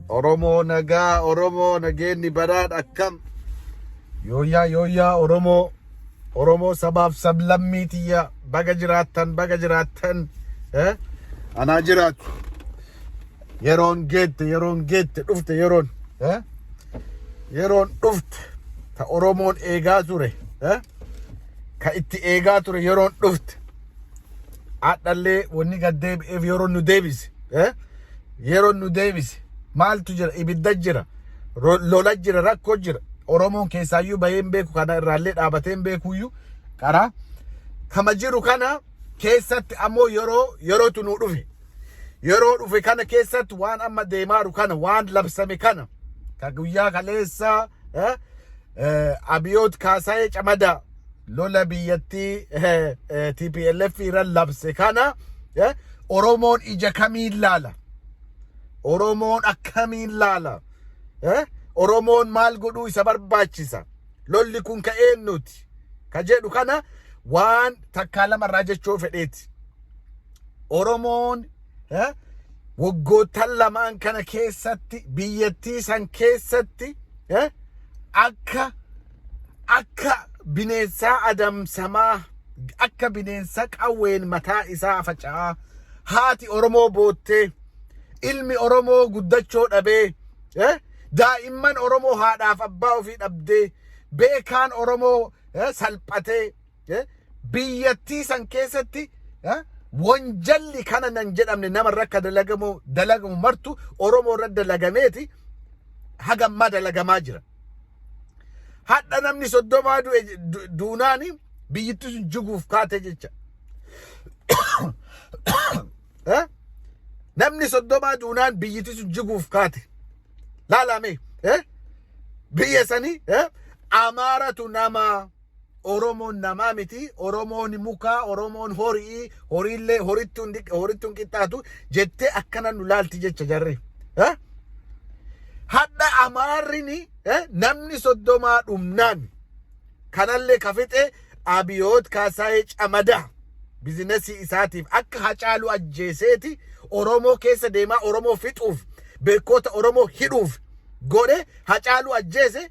Oromoo nagaa Oromoo nageenni badhaadh akkam yooyyaa yooyyaa Oromoo Oromoo sabaaf sablammii tiyya baga jiraattan baga jiraattan eh? anaa jiraatu yeroon geette yeroon geette dhufte yeroon eh? yeroon dhufte ta Oromoon eegaa ture eh? ka itti eegaa ture yeroon dhufte Hadhallee wanni gad deebi'eef yeroo nu deebise. eh, Yeroo nu deebise. Maaltu jira? Ibidda jira. ro- Lola jira. Rakkoo jira. Oromoon keessaayyuu bahee hin beeku kana irraallee dhaabatee hin beekuyyuu karaa kama jiru kana keessatti ammoo yeroo yerootu nu dhufe. Yeroo dhufe kana keessatti waan amma deemaaru kana waan labsame kana ka guyyaa kaleessaa Abiyoot Kaasaayee Camadaa lola biyyattii TPLF irra labse kana Oromoon ija kamiin laala? Oromoon akkamiin laala? Oromoon maal godhuu isa barbaachisa? Lolli kun ka eennuuti? Ka jedhu kana waan takkaa lamarraa jechuu fedheeti. Oromoon eh, waggoottan lamaan kana keessatti biyyattii san keessatti eh, akka akka bineensaa adamsamaa akka bineensa qawween mataa isaa faca'aa haati Oromoo boottee ilmi Oromoo guddachoo dhabee eh, daa'imman Oromoo haadhaaf abbaa ofii dhabdee beekaan Oromoo eh, salphatee eh, biyyattii san keessatti eh, wanjalli kana nan jedhamne nama irra akka dalagamu dalagamu martu Oromoo irra dalagameeti haga ammaa dalagamaa jira. Hadha namni soddomaa du'e du- duunaani biyyittii sun jiguuf kaate jecha. Eh? Namni soddomaa duunaan biyyittii sun jiguuf kaate. Laalame. Eh? Biyya sanii eh? Amaaratu namaa. Oromoon namaa miti, Oromoon mukaa, Oromoon hori'ii, horiillee horitti hin diq- horitti hin qixxaatu jettee akkana nu laalti jecha jarri. Eh? Hadha Amaarrini eh, namni soddomaa dhumnaan kanallee ka fixe Abiyoot Kaasaayee Camadaa bizinasii isaatiif akka hacaaluu ajjeeseeti Oromoo keessa deemaa Oromoo fixuuf beekoota Oromoo hidhuuf godhe hacaaluu ajjeese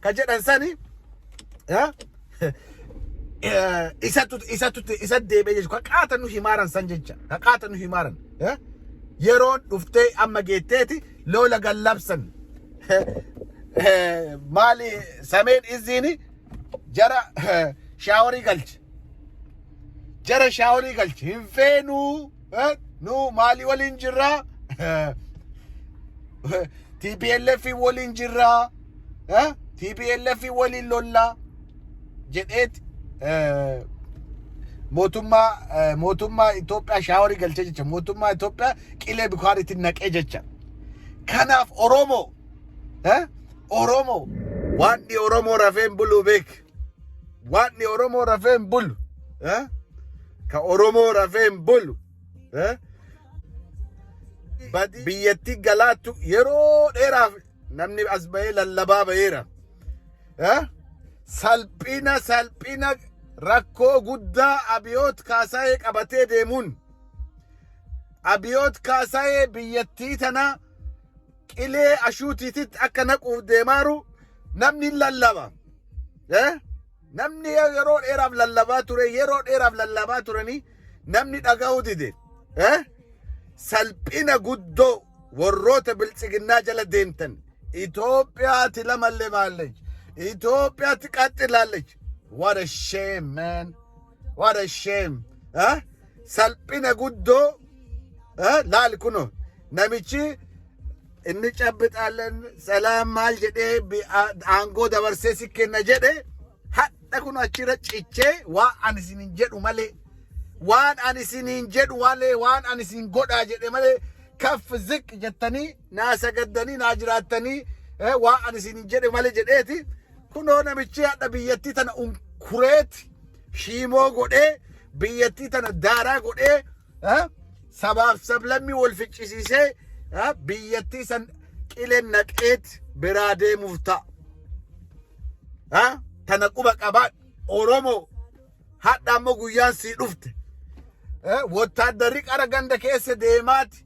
ka jedhan sani eh, eh, isatu isatu isa deebi'ee jechuudha. Ka qaata nu himaaran san jecha. Ka qaata nu himaaran. eh, Yeroon dhuftee amma geetteeti loola gallabsan. Eh, Maali sameen izziini jara eh, shaaworii galche. Jara shaaworii galche. Hin feenuu. Eh, nu maalii waliin jirra tplf waliin jirra eh, tplf waliin lolla jedheet eh, mootummaa eh, mootummaa Itoophiyaa shaaworii galchee jecha mootummaa Itoophiyaa qilee bikaaritti naqee jecha kanaaf Oromoo eh, Oromoo waan Oromoo rafeen buluu beek Waaqni Oromoo rafee hin bulu. Eh? Ka Oromoo rafee hin bulu. Eh? Badi biyyattii galaattu yeroo dheeraaf namni as bahee lallabaa baheera. Eh? Salphina salphina rakkoo guddaa abiyoot kaasaa'ee qabatee deemuun abiyoot kaasaa'ee biyyattii tana qilee ashuutiititti akka naquuf deemaaru namni hin lallaba. Eh? Namni yeroo dheeraaf lallabaa ture, yeroo dheeraaf lallabaa turanii namni dhaga'uu dide. Eh? Salphina guddoo warroota biltsiginnaa jala deemtan. Itoophiyaatti lamalle baalleech. Itoophiyaatti qaxxilaalleech. What a shame, man. What a shame. Eh? salphina guddoo eh, laal kuno namichi inni cabbixaalleen salaam maal jedhee bi- a- aangoo dabarsee si kenna jedhe hadha kun achirra cichee waan ani isiniin jedhu malee waan ani isiniin jedhu malee waan ani isin godhaa jedhe malee kaf ziq jettanii naa sagaddanii naa jiraattanii eh, waan ani isiniin jedhe malee jedheeti kunoo namichi hadha biyyattii tana unkureeti shiimoo godhee biyyattii tana daaraa godhee ah, sabaaf sablammii wal ficcisiisee ah, biyyattii san qilee naqeet biraa deemuuf ta'a. Ah, Tana quba qabaa Oromoo hadha ammoo guyyaan sii dhufte. Eh, Wotaaddarri qara ganda keessa deemaati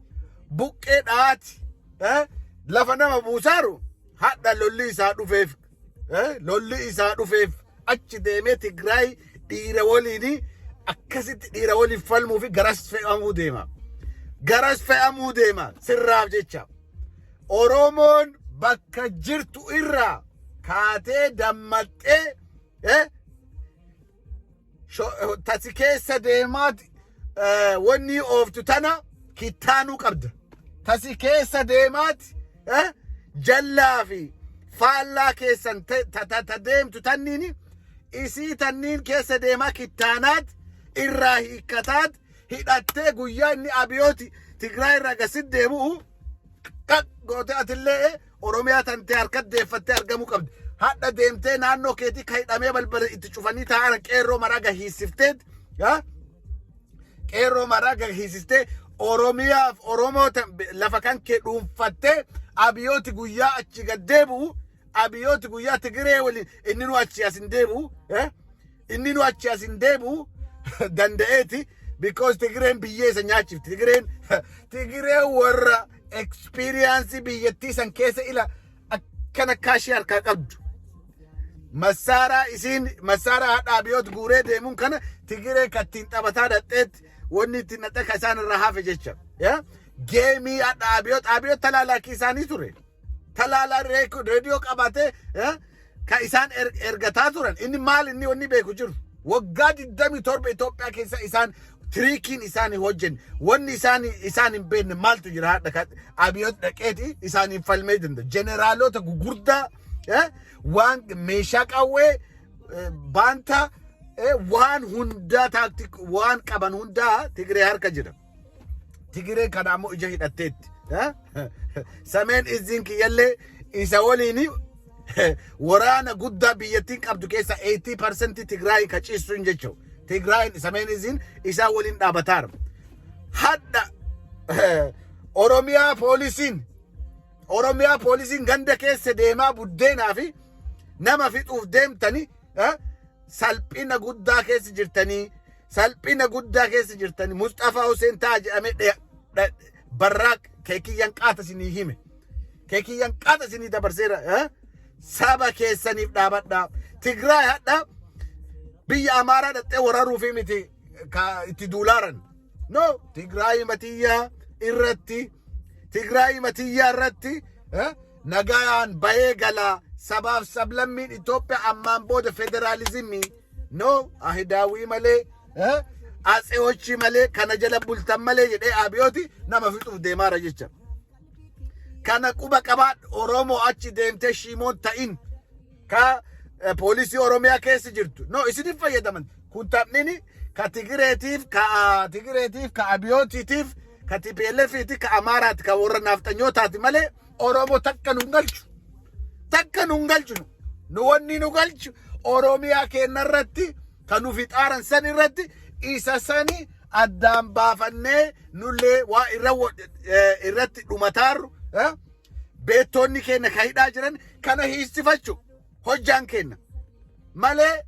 buqqee dhaati eh, lafa nama buusaaru hadha lolli isaa dhufeef Eh, lolli isaa dhufeef achi deemee Tigraay dhiira waliin akkasitti dhiira waliin falmuu fi garas fe'amuu deema. Garas fe'amuu deema sirraaf jecha. Oromoon bakka jirtu irraa kaatee dammaxxee eh, Sho- tasi keessa deemaat eh, wannii ooftu tana kittaanuu qabda. Tasi keessa deemaat eh, jallaa fi faallaa keessan te- ta- ta- ta deemtu tanniin isii tanniin keessa deemaa kittaanaat irraa hiikkataat hidhattee guyyaa inni abiyooti Tigraay irraa gasit deemu'u qaq gootee atillee Oromiyaa tantee harkat deeffattee argamuu qabdi. Hadha deemtee naannoo keetii ka hidhamee balbala itti cufanii taa'an qeerroo maraa gahiisifteet. yaa? Qeerroo maraa gahiisistee Oromiyaaf Oromoo tan- lafa kan kee dhuunfattee abiyooti guyyaa achi gad deebi'u abiyooti guyyaa Tigiree waliin inni nu achi as hin deebi'u. yaa? Inni nu achi as hin deebi'u danda'eeti because Tigireen biyyee isa nyaachifti. Tigireen Tigireen warra experience biyyattii san keessa ila akkana kaashii harkaa qabdu. Masaaraa isiin masaaraa hadhaa abiyoot guuree deemuun kana Tigiree kattiin taphataa dhaqxeetti wanni ittiin dhaqxe ka isaan irraa hafe jecha. Geemii hadhaa abiyoot abiyoot talaalaakii isaanii ture. talaala reek- reediyoo qabatee eh, kan isaan er- ergataa turan inni maal inni wanni beeku jiru waggaa 27 Itoophiyaa keessa isaan tiriikiin isaan hin hojjenne wanni isaan isaan hin beekne maaltu jira hadha kan abiyoot dhaqeeti isaan hin falmee danda'a jeneraalota gugurdaa eh, waan meeshaa qawwee eh, baantaa eh, waan hundaa taaktik waan qaban hundaa Tigree harka jira. Tigireen kana ammoo ija hidhatteetti. Eh? Sameen izziin kiyyallee isa waliin waraana guddaa biyyattiin qabdu keessa 80% Tigraay ka ciistuun jechuudha. Tigraay sameen izziin isaa waliin dhaabataara. Hadha eh, Oromiyaa poolisiin Oromiyaa poolisiin ganda keessa deemaa buddeenaa fi nama fixuuf deemtanii eh, salphina guddaa keessa jirtanii Salphina guddaa keessa jirtani Musxafaa Huseen ta'a jedhamee dhe- dha- barraa keekiyyan qaata isinii hime. Keekiyyan qaata isinii dabarseera. eh? Saba keessaniif dhaabadhaa. Tigraay hadha biyya Amaaraa dhaxxee waraaruufi miti ka itti duulaaran. No, Tigraay matiyyaa irratti, Tigraay matiyyaa irratti eh, nagaan bahee galaa sabaaf sablammiin Itoophiyaa ammaan booda federaalizimii No ahidaawwii malee eh, atseochii malee kana jala bultan malee jedhee abiyooti nama fixuuf deemaara jecha. Kana quba qabaadhu Oromoo achi deemtee shiimoon ta'in ka eh, poolisii Oromiyaa keessa jirtu. No isiniif fayyadaman. Kun taphni ka Tigireetiif, ka ah, Tigireetiif, ka Abiyootiitiif, ka TPLFiitiif, ka Amaaraati, ka warra naafxanyootaati malee Oromo takka nun galchu. Takka nun galchu. nu. Nu wanni nu galchu Oromiyaa keenya irratti kan nufi xaaran san irratti isa sani addaan baafannee nullee waa irra wa- eh, irratti dhumataarru eh, beektoonni keenya ka hidhaa jiran kana hiistifachu hojjaan keenya malee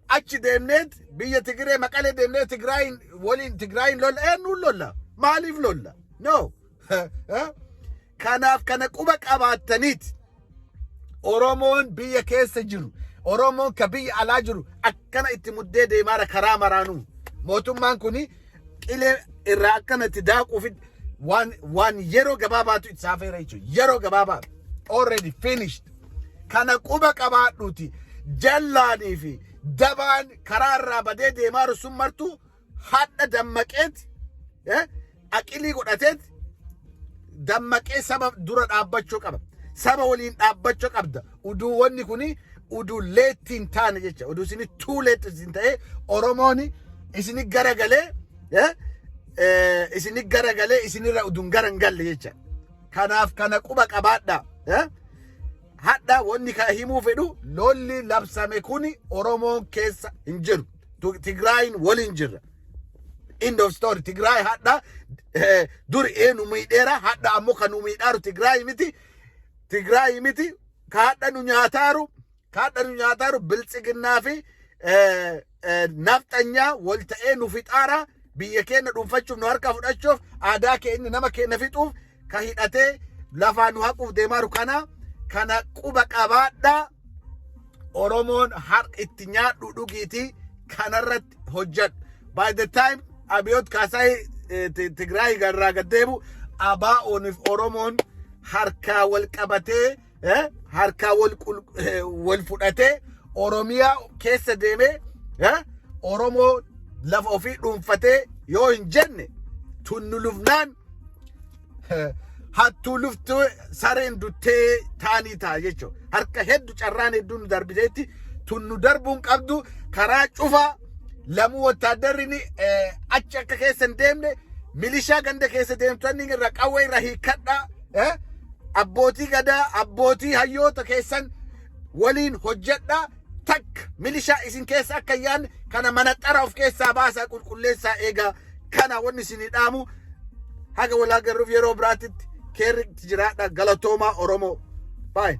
achi deemneet biyya Tigiree maqalee deemnee Tigraayin waliin Tigraayin lolla eenyuun lolla maaliif lolla no Kanaaf kana quba qabaattaniit Oromoon biyya keessa jiru Oromoon ka biyya alaa jiru akkana itti muddee deemaara karaa maraanuu mootummaan kun qilee irraa akkana itti daaquuf waan waan yeroo gabaabaatu itti saafeera jechuudha yeroo gabaabaa already finished kana quba qabaadhuuti jallaanii fi dabaan karaa irraa badee deemaaru sun martuu hadha dammaqeeti eh, aqilii godhateeti dammaqee saba dura dhaabbachuu qaba saba waliin dhaabbachuu qabda uduu wanni kuni uduu leetti hin taane jecha uduu isini tuu leetti isin ta'ee oromoon isini garagalee eh, eh, isini garagalee isinirra uduun gara hin galle jecha kanaaf kana quba qabaadha eh? Hadha wanni kana himuu fedhu lolli labsame kuni Oromoon keessa hin jiru. Tu- Tigraayin waliin jirra. End of story. Tigraay hadha eh, dur ee nu miidheera hadha ammoo kan nu miidhaaru Tigraay miti. Tigraay miti. Ka hadha nu nyaataaru ka hadha nu nyaataaru biltsiginnaa fi eh, eh, nafxanyaa wal ta'ee nu fixaara biyya keenya dhuunfachuuf nu harkaa fudhachuuf aadaa keenya nama keenya fixuuf ka hidhatee lafaa nu haquuf deemaaru kana kana quba qabaadhaa Oromoon har itti nyaadhu dhugiitii kanarratti hojjedhu. By the time Abiyoot Kaasaay eh, Ti- Tigraay irraa gad deebi'u ABO'niif Oromoon harkaa wal qabatee eh, harkaa wal qul- eh, wal fudhatee Oromiyaa keessa deemee eh, Oromoo lafa ofii dhuunfatee yoo hin jenne tunnu lufnaan eh, hattuu luftu sareen duttee taanii ta'a jechuudha. Harka heddu carraan hedduu nu darbiteetti tunnu darbuun qabdu karaa cufaa lamuu wotaaddarri ni, eh, achi akka keessa hin deemne milishaa ganda keessa deemtonni irra qawwee irra hiikkadhaa Eh? Abbootii gadaa, abbootii hayyoota keessan waliin hojjedhaa takka milishaa isin keessa akka hin yaadne kana manaxara of keessaa baasaa qulqulleessaa eegaa kana wanni isinii dhaamu haga walaa garruuf yeroo biraatitti keerri jiraadha galatoomaa Oromoo. Bye.